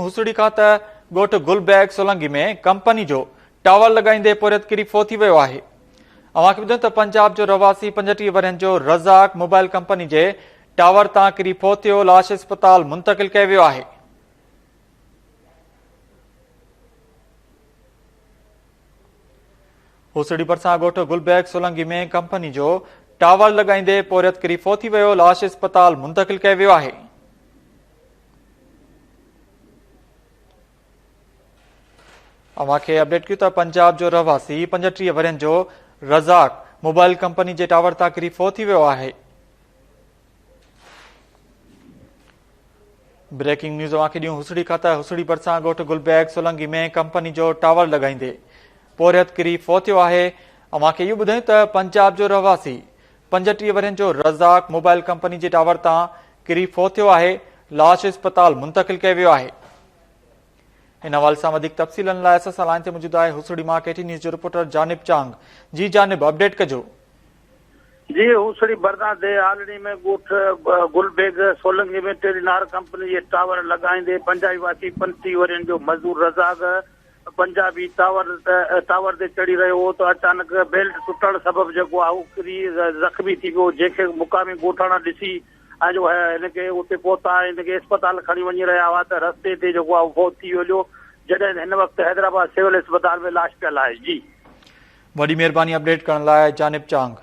هوسڙي کان ته ڳوٺ گل بيگ سولنگي ۾ ڪمپني جو ٽاور لڳائيندي پورهيت ڪري فوت ٿي ويو آهي اوهان کي ٻڌن ته پنجاب جو رهواسي پنجٽيهه ورهين جو رزاق موبائل ڪمپني جي ٽاور تان ڪري فوت ٿيو لاش اسپتال منتقل ڪيو ويو آهي هوسڙي ڀرسان ڳوٺ گل بيگ سولنگي ۾ ڪمپني جو ٽاور لڳائيندي پورهيت ڪري فوت ٿي ويو لاش اسپتال منتقل ڪيو ويو آهي اوهان کي اپڊيٽ ڪيون ته پنجاب جو رهواسي پنجٽيهه ورهين جو رزاق موبائل ڪمپني جي ٽاور تان ڪري فوت ٿي ويو آهي بريڪنگ نيوز اوهان کي ڏيون هسڙي کان ته هسڙي ڀرسان ڳوٺ گلبيگ سولنگي ۾ ڪمپني جو ٽاور لڳائيندي پورهيت ڪري فوت ٿيو آهي اوهان کي اهو ٻڌايون ته پنجاب جو رهواسي پنجٽيهه ورهين جو رزاق موبائل ڪمپني جي ٽاور تان ڪري فوت ٿيو آهي، لاش اسپتال منتقل ڪيو ويو آهي. ان حوالي سان وڌيڪ تفصيلن لاء اسان سان لائين تي موجود آهي هوسڙي مان ڪي ٽي نيوز جو رپورٽر جانب چانگ، جي جانب اپڊيٽ ڪجو. جي هوسڙي برنا دي آلڙي ۾ ڳوٺ Gul Beg Solangi ۾ Telenor company جي ٽاور لڳائيندي بنجائي واسي پنجٽيهه ورهين جو مزدور رزاق پنجابي ٽاور ٽاور تي چڙهي رهيو هو ته اچانڪ بيلٽ ٽٽڻ سبب جيڪو آهي هو ڪري زخمي ٿي پيو جنهن کي مقامي ڳوٺاڻا ڏسي ۽ جو هي هن کي اتي پهتا ۽ هن کي اسپتال کڻي وڃي رهيا هئا ته رستي تي جيڪو آهي فوت ٿي ويليو جڏهن هن وقت حيدرآباد سول اسپتال ۾ لاش پيل آهي جي. وڏي مهرباني اپڊيٽ ڪرڻ لاء جانب چانگ.